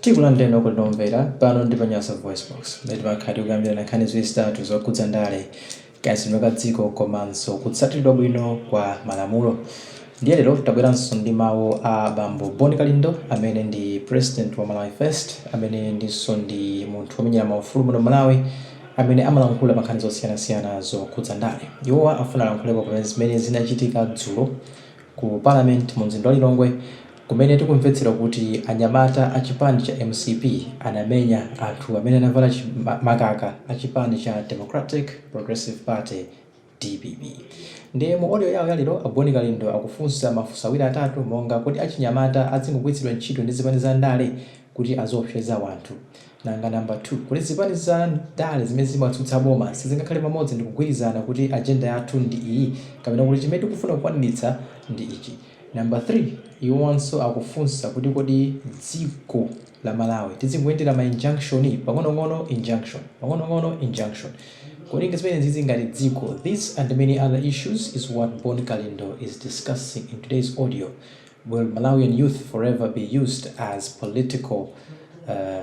Tikulandireni okondeka omvera pano ndi pa Nyasa VoiceBox, mmene timakhala tikukambirana nkhani ziwiri zitatu zokhudza ndale, kayendetsedwe ka dziko komanso kutsatiridwa bwino kwa malamulo. Ndiye lero tabweranso ndi mawu a bambo Bon Kalindo amene ndi President wa Malawi First, amene ndinso ndi munthu womenyera maufulu muno m'Malawi, amene amalankhula pa nkhani zosiyanasiyana zokhudza ndale. Iwowa afuna alankhulepo pa zimene zinachitika dzulo ku Parliament munzinda wa Lilongwe. Kumene tikumvetsera kuti anyamata a chipani cha mcp anamenya anthu amene anavala makaka a chipani cha Democratic Progressive Party, dpp. Ndiye mu audio yawo ya lero, a Bon Kalindo akufunsa mafunso awiri atatu monga kodi achinyamata adzingogwiritsidwa ntchito ndi zipani za ndale kuti aziopseza wanthu? Nanga number 2, kodi zipani za ndale zimene zimatsutsa boma sizingakhale pamodzi ndikugwirizana kuti agenda yathu ndi iyi kapena kuti chimene tikufuna kukwaniritsa ndi ichi? Number 3 iwowanso akufunsa kuti kodi dziko la Malawi tidzingoyendera ma injunction? Pang'onong'ono injunction, pang'onong'ono injunction. Kodi ndizimenezizi ngati dziko? This and many other issues is what Bon Kalindo is discussing in today's audio. Will Malawian youth forever be used as political uh,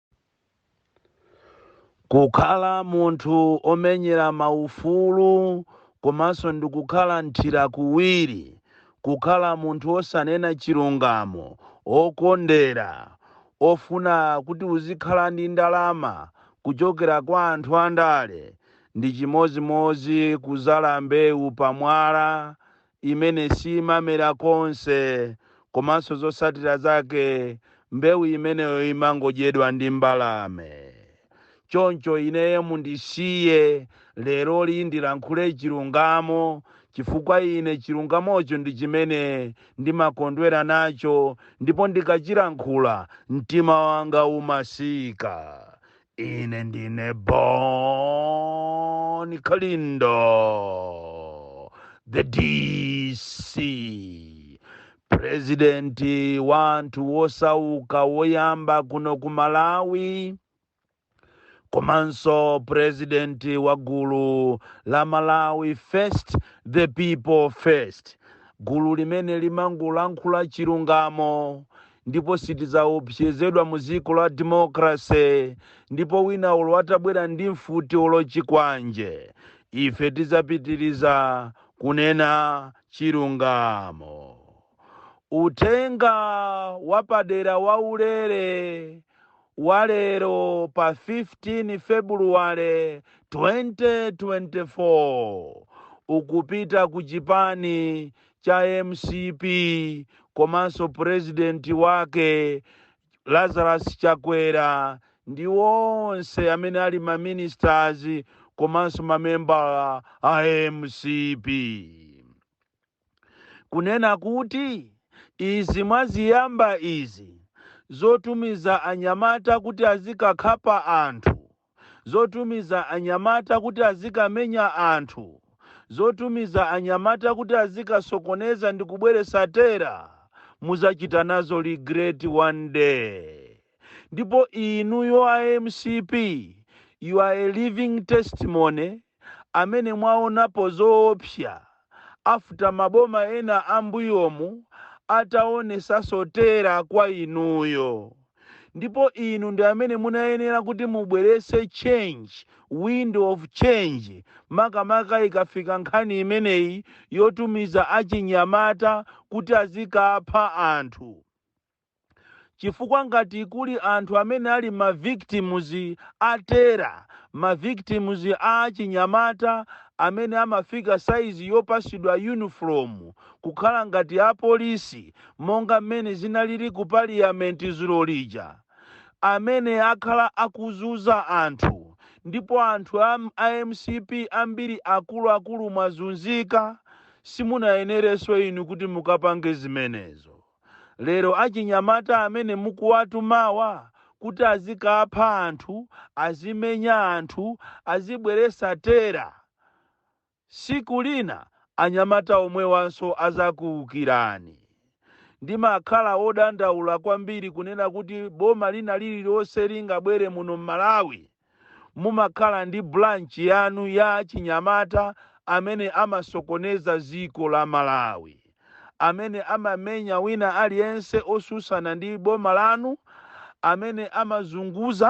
Kukhala munthu omenyera maufulu komanso ndikukhala nthira kuwiri, kukhala munthu osanena chilungamo, okondera, ofuna kuti uzikhala ndi ndalama kuchokera kwa anthu andale, ndi chimodzimodzi kuzala mbewu pamwala imene siimamera konse komanso zotsatira zake mbewu imeneyo imangodyedwa ndi mbalame. Choncho ineyo mundisiye leroli ndilankhule chilungamo chifukwa ine chilungamocho ndi chimene ndimakondwera nacho ndipo ndikachilankhula mtima wanga umamasuka. Ine ndine Bon Kalindo, the DC, presidenti wa anthu wosauka woyamba kuno ku Malawi, komanso presidenti wa gulu la Malawi First, the People First, gulu limene limangolankhula chilungamo ndipo sitidzaopsezedwa mu dziko la democracy ndipo wina olo atabwera ndi mfuti olo chikwanje ife tidzapitiriza kunena chilungamo uthenga wapadera waulere walero pa 15 febuluwale 2024 ukupita ku chipani cha mcp komanso president wake Lazarus Chakwera ndi onse amene ali ma ministers komanso mamembala a mcp kunena kuti izi mwaziyamba izi zotumiza anyamata kuti azikakhapa anthu zotumiza anyamata kuti azikamenya anthu, zotumiza anyamata kuti azikasokoneza ndi kubweretsa terror, muzachita nazo regret one day. Ndipo inuyo a mcp, you are a living testimony amene mwaonapo zoopsa after maboma ena ambuyomu ataonesaso terror kwa inuyo ndipo inu ndi amene munayenera kuti mubwerese change, window of change, makamaka ikafika nkhani imeneyi yotumiza achinyamata kuti azikapha anthu. chifukwa ngati kuli anthu amene ali ma victims a terror, ma victims a achinyamata amene amafika size yopasidwa uniform kukhala ngati a police monga mmene zinalili ku parliament zulo lija, amene akhala akuzuza anthu ndipo anthu a mcp ambiri akuluakulu mwazunzika, simunayenereso inu kuti mukapange zimenezo. Lero achinyamata amene mukuwatumawa kuti azikapha anthu, azimenya anthu, azibweresa terror, siku lina anyamata omwewanso azakuukirani. Ndimakhala wodandaula kwambiri kunena kuti boma lina lililonse lingabwere muno m'Malawi mumakhala ndi branch yanu ya achinyamata amene amasokoneza ziko la Malawi, amene amamenya wina aliyense osusana ndi boma lanu, amene amazunguza,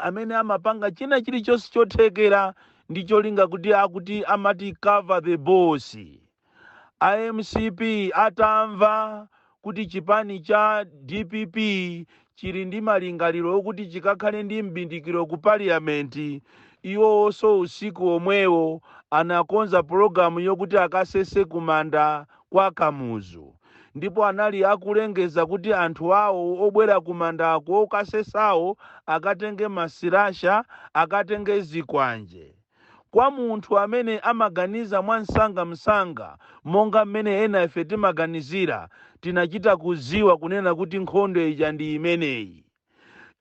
amene amapanga china chilichonse chothekera ndi cholinga kuti akuti amati cover the boss. A mcp atamva kuti chipani cha dpp chili ndi malingaliro okuti chikakhale ndi m'bindikiro ku parliament, iwowoso usiku omwewo anakonza pulogalamu yokuti akasese ku manda kwa Kamuzu ndipo anali akulengeza kuti anthu awo obwera ku mandako okasesawo akatenge ma slasher, akatenge zikwanje. Kwa munthu amene amaganiza mwamsangamsanga monga mmene ena ife timaganizira, tinachita kudziwa kunena kuti nkhondo ija ndi imeneyi.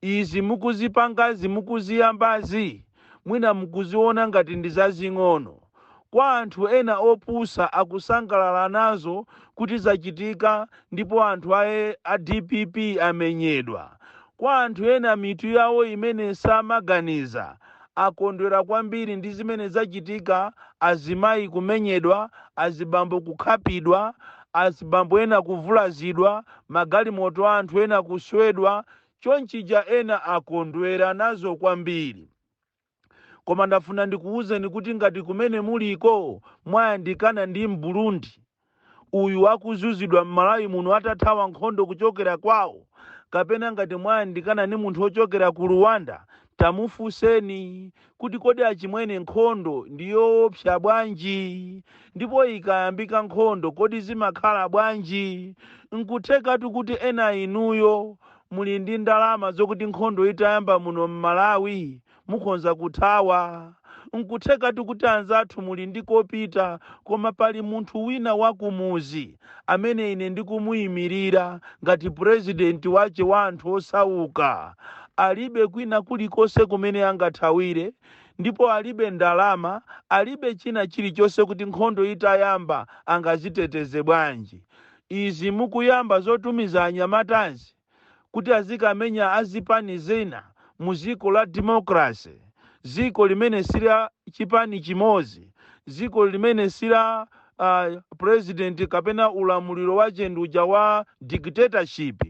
Izi mukuzipangazi, mukuziyambazi, mwina mukuziona ngati ndi zazing'ono. Kwa anthu ena opusa akusangalala nazo kuti zachitika ndipo anthu a dpp amenyedwa. Kwa anthu ena mitu yawo imene samaganiza akondwera kwambiri ndi zimene zachitika, azimayi kumenyedwa, azibambo kukhapidwa, azibambo ena kuvulazidwa, magalimoto a anthu ena kuswedwa, chonchija ena akondwera nazo kwambiri. Koma ndafuna ndikuwuzeni kuti ngati kumene muliko mwayandikana ndi Mburundi uyu akuzuzidwa m'Malawi muno atathawa nkhondo kuchokera kwawo, kapena ngati mwayandikana ndi munthu ochokera ku Rwanda, tamufunseni kuti kodi achimwene nkhondo ndi yowopsa bwanji? Ndipo ikayambika nkhondo kodi zimakhala bwanji? Nkuthekatu kuti ena inuyo Muli ndi ndalama zokuti nkhondo itayamba muno m'Malawi mukhonza kuthawa. Nkuthekatu kuti anzathu muli ndi kopita koma pali munthu wina wa kumuzi amene ine ndikumuimilira ngati president wache wa anthu osauka. Alibe kwina kulikonse kumene angathawire ndipo alibe ndalama alibe china chilichonse kuti nkhondo itayamba angaziteteze bwanji. izi mukuyamba zotumiza anyamatazi kuti azikamenya a zipani zina mu ziko la democracy, ziko limene si la chipani chimozi, ziko limene si la president kapena ulamuliro wa chenduja wa dictatorship,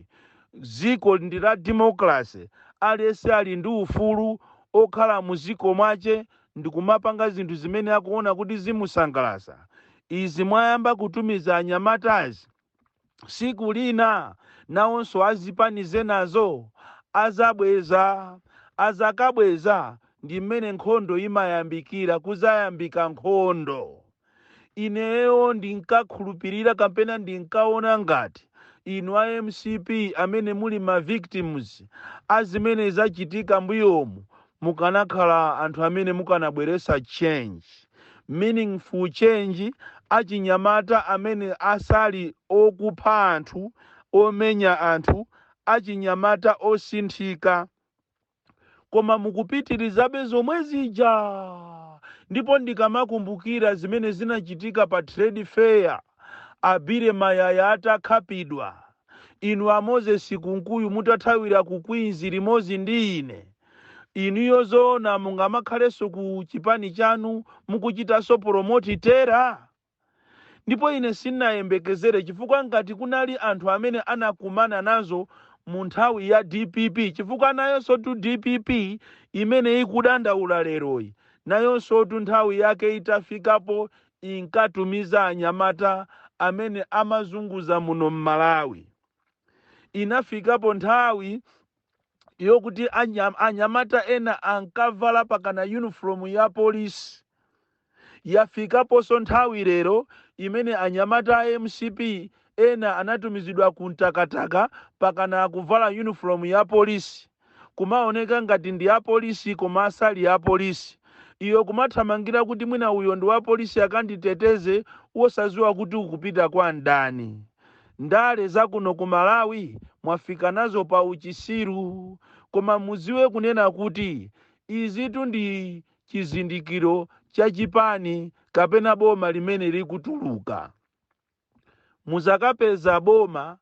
ziko ndi la democracy, aliyese ali ndi ufulu okhala mu ziko mwache ndikumapanga zinthu zimene akuona kuti zimusangalasa izi mwayamba kutumiza anyamatazi siku lina nawonso azipani zinazo azabweza azakabweza ndi mmene nkhondo imayambikira kuzayambika nkhondo ineyo ndinkakhulupirira kapena ndinkaona ngati inu a mcp amene muli ma victims a zimene zachitika mbuyomu mukanakhala anthu amene mukanabweretsa change meaningful change achinyamata amene asali okupha anthu omenya anthu achinyamata osinthika koma mukupitirizabe zomwe zija ndipo ndikamakumbukira zimene zinachitika pa trade fair a Billy Mayaya atakhapidwa, inu a Moses Kunkuyu mutathawira ku Queens limodzi ndi ine, inuyo zoona mungamakhalenso ku chipani chanu mukuchitanso promote terror? ndipo ine sinayembekezere chifukwa ngati kunali anthu amene anakumana nazo mu nthawi ya dpp chifukwa nayonsotu dpp imene ikudandaula leroyi nayonsotu nthawi yake itafikapo inkatumiza anyamata amene amazunguza muno mmalawi inafikapo nthawi yokuti anyamata ena ankavala pakana uniform ya polisi yafikaponso nthawi lero imene anyamata a mcp ena anatumizidwa ku mtakataka pakana kuvala uniform ya polisi kumaoneka ngati ndi apolisi koma asali apolisi iwe kumathamangira kuti mwina uyo ndi wapolisi akanditeteze wosaziwa kuti ukupita kwa mdani Ndale zakuno ku Malawi mwafika nazo pa uchisiru. Koma muziwe kunena kuti izitu ndi chizindikiro cha chipani kapena boma limene likutuluka. Muzakapeza boma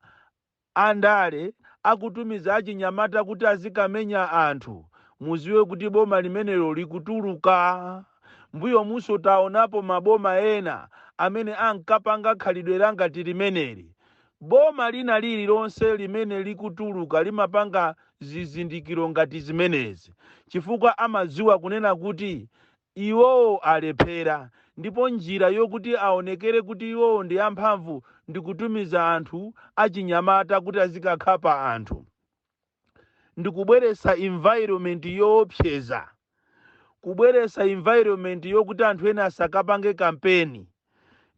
a ndale akutumiza achinyamata kuti azikamenya anthu, muziwe kuti boma limenelo likutuluka. M'mbuyomunso taonapo maboma ena amene ankapanga khalidwe langati limeneli. Boma lina lililonse limene likutuluka limapanga zizindikiro ngati zimenezi chifukwa amadziwa kunena kuti iwowo alephera ndipo njira yokuti aonekere kuti iwowo ndi amphamvu ndi kutumiza anthu achinyamata kuti azikakhapa anthu. ndi kubweretsa environment yoopseza kubweretsa environment yokuti anthu ena asakapange kampeni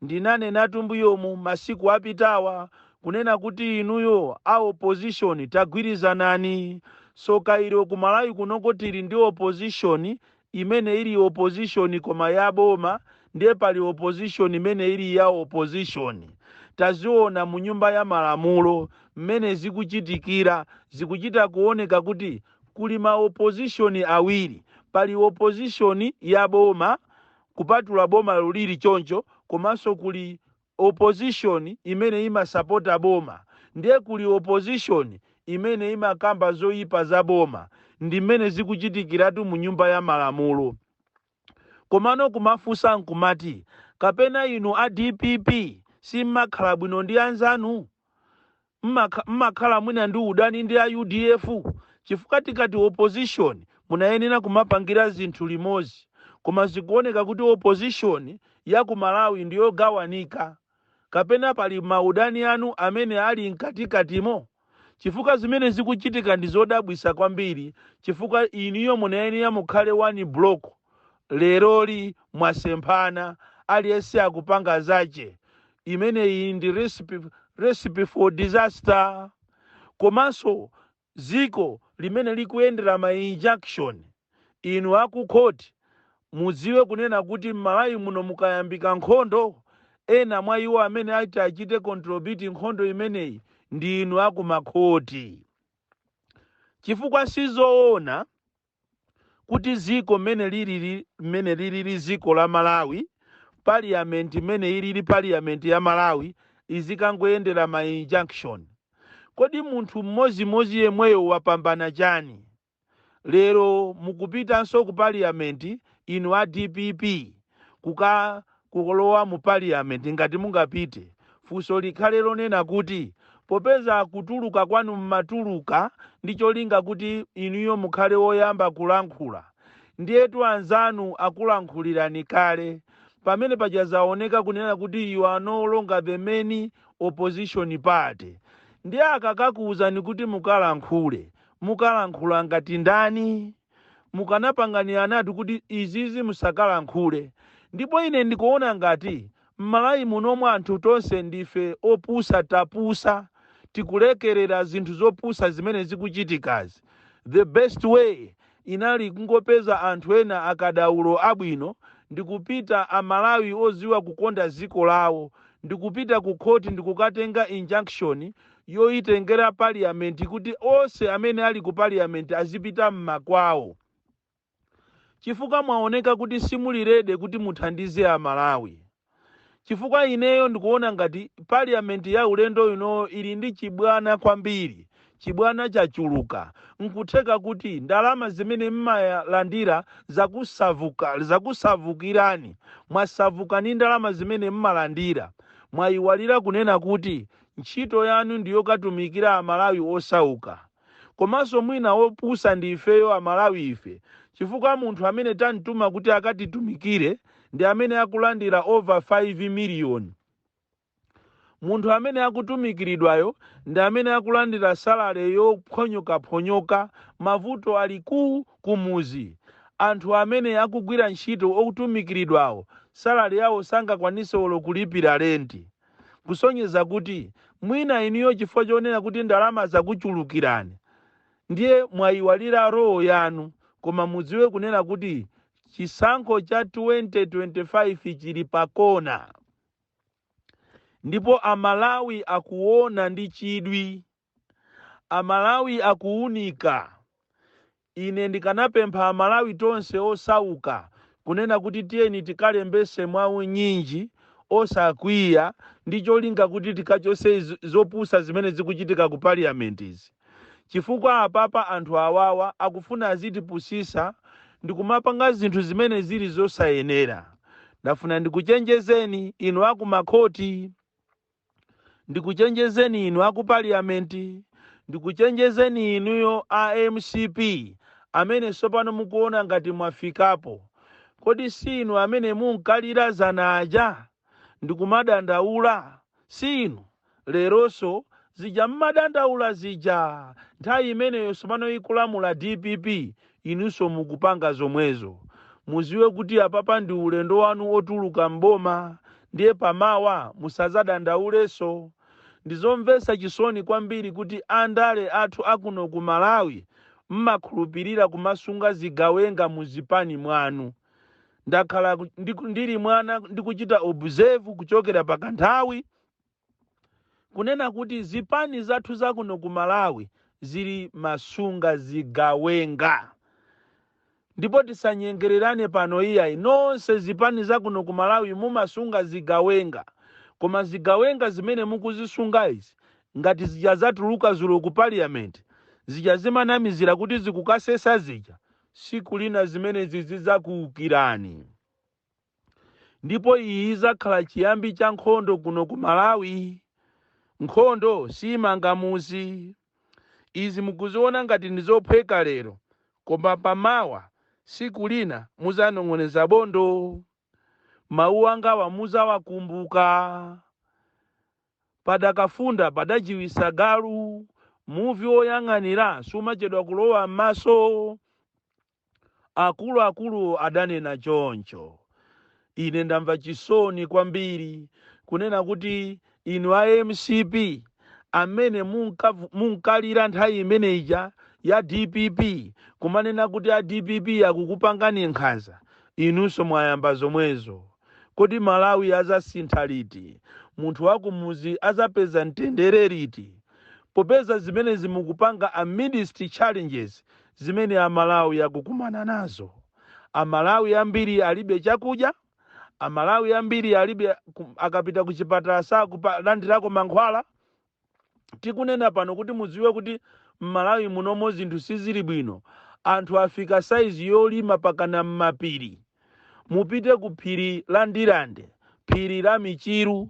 ndinanenatu mbuyomu masiku apitawa kunena kuti inuyo a opposition tagwirizanani soka ilo kumalawi kunoko tili ndi opposition imene ili opposition koma ya boma ndiye pali opposition imene ili ya opposition taziona mu nyumba ya malamulo mmene zikuchitikira zikuchita kuoneka kuti kuli ma opposition awiri pali opposition ya boma kupatula boma lulili choncho komanso kuli opposition imene imasapota boma ndiye kuli opposition imene imakamba zoyipa za boma ndi mmene zikuchitikiratu mu nyumba ya malamulo komano kumafunsa nkumati kapena inu a dpp simmakhala bwino ndi anzanu? mmakhala mwina ndi udani ndi a udf chifukwa tikati opposition munayenera kumapangira zinthu limodzi koma zikuoneka kuti opposition ya ku Malawi ndi yogawanika kapena pali maudani anu amene ali mkatikatimo? Chifukwa zimene zikuchitika ndi zodabwitsa kwambiri chifukwa inuyo munayenera mukhale one block leroli mwasemphana aliyense akupanga zache imeneyi ndi recipe for disaster komanso dziko limene likuyendera ma injunction inu akukhoti mudziwe kunena kuti m'malawi muno mukayambika nkhondo ena mwa iwo amene ati achite contribute nkhondo imeneyi ndi inu akumakhoti chifukwa sizoona kuti ziko mmene lilili mmene lilili ziko la Malawi parliament imene ilili parliament ya Malawi izikangoyendera ma injunction kodi munthu mmozimozi yemweyo wapambana chani lero mukupitanso ku parliament inu a DPP kuka kulowa mu Parliament ngati mungapite, funso likhale lonena kuti popeza kutuluka kwanu mmatuluka ndi cholinga kuti inuyo mukhale woyamba kulankhula ndiyetu anzanu akulankhulirani kale pamene paja zaoneka kunena kuti you are no longer the main opposition party ndiye akakakuuzani kuti mukalankhule, mukalankhula ngati ndani? mukanapanganiranatu kuti izizi musakalankhule ndipo ine ndikuona ngati mmalawi munomo anthu tonse ndife opusa tapusa tikulekerera zinthu zopusa zimene zikuchitikazi the best way inali kungopeza anthu ena akadaulo abwino ndikupita amalawi oziwa kukonda ziko lawo ndikupita ku khoti ndikukatenga injunction yoyitengera Parliament kuti onse amene ali ku Parliament azipita m'makwawo chifukwa mwaoneka kuti simuli ready kuti muthandize a Malawi chifukwa ineyo ndikuona ngati Parliament ya ulendo unowu ili ndi chibwana kwambiri chibwana chachuluka nkutheka kuti ndalama zimene mmalandira zakusavukirani mwasavuka ndi ndalama zimene mmalandira mwayiwalira kunena kuti Ntchito yanu ndi yokatumikira amalawi osauka. Komanso mwina opusa ndi ifeyo amalawi ife chifukwa munthu amene tamtuma kuti akatitumikire ndi amene akulandira over 5 million. Munthu amene akutumikiridwayo ndi amene akulandira salary yophonyokaphonyoka. Mavuto aliko kumuzi. Anthu amene akugwira ntchito otumikiridwawo salary yawo sangakwanise olo kulipira rent. kusonyeza kuti mwina inuyo chifukwa chonena kuti ndalama zakuchulukirani ndiye mwayiwalira role yanu koma mudziwe kunena kuti chisankho cha 2025 chili pakona ndipo amalawi akuona ndi chidwi Amalawi akuwunika. Ine ndikanapempha amalawi tonse osauka kunena kuti tiyeni tikalembese mwaunyinji osakwiya ndi cholinga kuti tikachose zopusa zimene zikuchitika ku parliament izi chifukwa apapa anthu awawa akufuna azitipusisa ndikumapanga zinthu zimene zili zosayenera. Ndafuna ndikuchenjezeni inu akumakhoti. ndikuchenjezeni inu aku parliament ndikuchenjezeni inuyo a mcp amene sopano mukuona ngati mwafikapo kodi si inu amene munkalira zana aja ndikumadandaula si inu leronso zija mmadandaula zija nthawi imeneyo sopano ikulamula dpp inunso mukupanga zomwezo. Muziwe kuti apapa ndi ulendo wanu otuluka m'boma ndiye pa mawa musazadandaulenso. Ndizomvesa chisoni kwambiri kuti a ndale athu akuno ku Malawi mmakhulupilira kumasunga zigawenga mu zipani mwanu. Ndakhala ndi, ndili mwana ndikuchita observe kuchokera pa kanthawi. kunena kuti zipani zathu zakuno ku Malawi zili mmasunga zigawenga ndipo tisanyengererane pano iyayi nonse zipani zakuno ku Malawi mumasunga zigawenga koma zigawenga zimene mukuzisunga izi ngati zija zatuluka zulo ku parliament zija zimanamizira kuti zikukasesa zija siku lina zimenezi zidzakuukirani ndipo iyi izakhala chiyambi cha nkhondo kuno ku malawi nkhondo siimanga muzi izi mukuziona ngati ndi zophweka lero koma pamawa siku lina muzanong'oneza bondo mawu angawa muzawakumbuka padakafunda padajiwisa galu muvi woyang'anira sumachedwa kulowa m'maso Akuluakulu adanena choncho. Ine ndamva chisoni kwambiri kunena kuti inu a mcp amene munkavu, munkalira nthawi imene ija ya dpp kumanena kuti a dpp akukupangani nkhanza, inunso mwayamba zomwezo. Kodi Malawi azasintha liti? Munthu wakumuzi azapeza mtendere liti? Popeza zimenezi mukupanga amidst challenges Zimene Amalawi akukumana nazo. Amalawi ambiri alibe chakudya, Amalawi ambiri alibe ku, akapita ku chipatala sakulandirako mankhwala. Tikunena pano kuti mudziwe kuti m'Malawi munomo zinthu sizili bwino. Anthu afika saizi yolima pakana m'mapiri. mupite ku phiri la Ndirande, phiri la Michiru,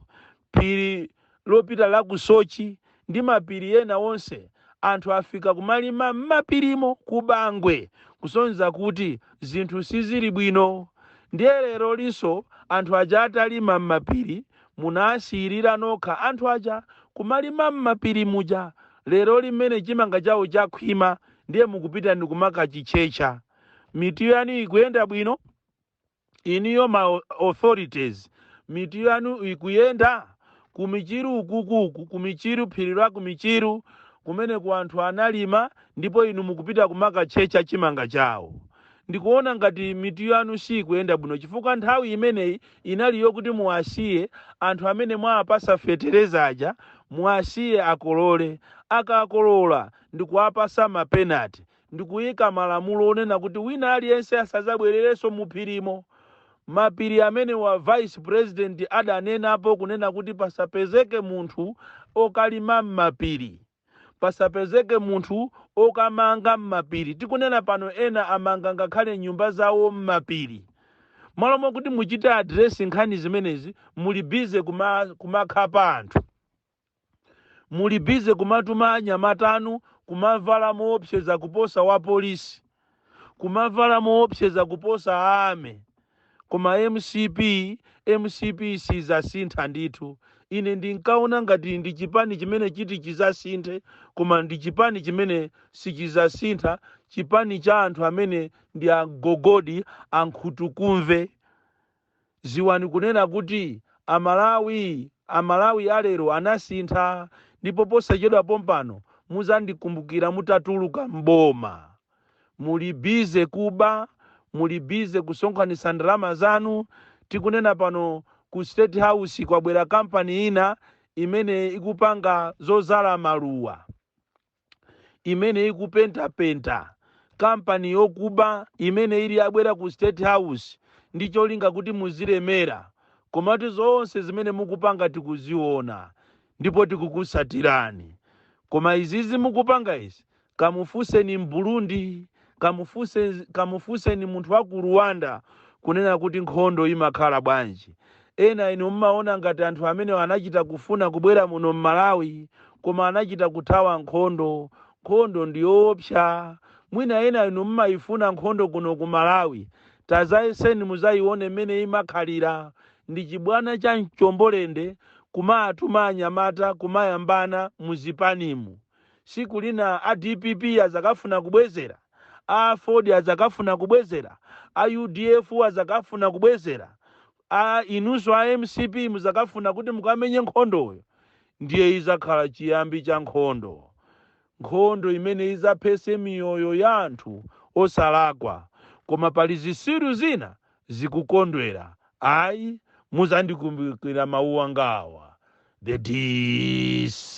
phiri lopita la ku Sochi ndi mapiri ena onse. Anthu afika kumalima m'mapirimo ku Bangwe kusonyeza kuti zinthu sizili bwino. Ndiye lerolinso anthu aja atalima m'mapiri munawasiyirira nokha anthu aja kumalima m'mapiri muja. Leroli mmene chimanga chawo chakhwima ndiye mukupita ndikumakachitchetcha. mitu yanu ikuyenda bwino iniyo ma au- authorities mitu yanu ikuyenda kumichiru ukukuku kumichiru phiri la kumichiru kumene ku anthu analima ndipo inu mukupita kumakatchecha chimanga chawo ndikuona ngati mitu yanu sikuyenda bwino chifukwa nthawi imeneyi inali yokuti muwasiye anthu amene mwawapasa fetereza aja muwasiye akolole akakolola ndikuwapasa ma penalty ndi kuika malamulo onena kuti wina aliyense asadzabwererenso muphirimo. Mapiri amenewa a Vice President adanenapo kunena kuti pasapezeke munthu okalima m'mapiri, pasapezeke munthu okamanga m'mapiri. Tikunena pano ena amanga ngakhale nyumba zawo m'mapiri. M'malo mokuti muchite address nkhani zimenezi muli busy kuma, kumakhapa anthu. muli busy kumatuma anyamata anu kumavala moopseza kuposa apolisi kumavala moopseza kuposa a army koma mcp mcp sizasintha ndithu ine ndinkaona ngati ndi chipani chimene chiti chizasinthe koma ndi chipani chimene sichizasintha chipani cha anthu amene ndi agogodi ankhutukumve Ziwani kunena kuti Amalawi, Amalawi a lero anasintha ndipo posachedwa pompano muzandikumbukira mutatuluka m'boma. Muli busy kuba, muli busy kusonkhanitsa ndalama zanu, tikunena pano ku state house kwabwera kampani ina imene ikupanga zodzala maluwa. imene ikupentapenta kampani yokuba imene iri yabwera ku state house ndi cholinga kuti muzilemera komatu zonse zimene mukupanga tikuziona ndipo tikukutsatirani koma izizi mukupanga izi kamufunseni m'burundi Kamufunse, kamufunseni munthu wa ku Rwanda kunena kuti nkhondo imakhala bwanji. Ena inu mmaona ngati anthu amenewa anachita kufuna kubwera muno m'Malawi koma anachita kuthawa nkhondo. Nkhondo ndiyoopsa. Mwina ena inu mmaifuna nkhondo kuno ku Malawi. Tazayeseni muzaione mmene imakhalira. Ndi chibwana cha mchombolende kumaatuma anyamata kumayambana mu zipanimu. siku lina a dpp azakafuna kubwezera, a aford azakafuna kubwezera, a udf azakafuna kubwezera, a inunso a mcp muzakafuna kuti mukamenye nkhondoyo, ndiye izakhala chiyambi cha nkhondo, nkhondo imene izaphese miyoyo ya anthu osalakwa. Koma pali zisiru zina zikukondwera ayi muzandikumbukira mawu angawa the dc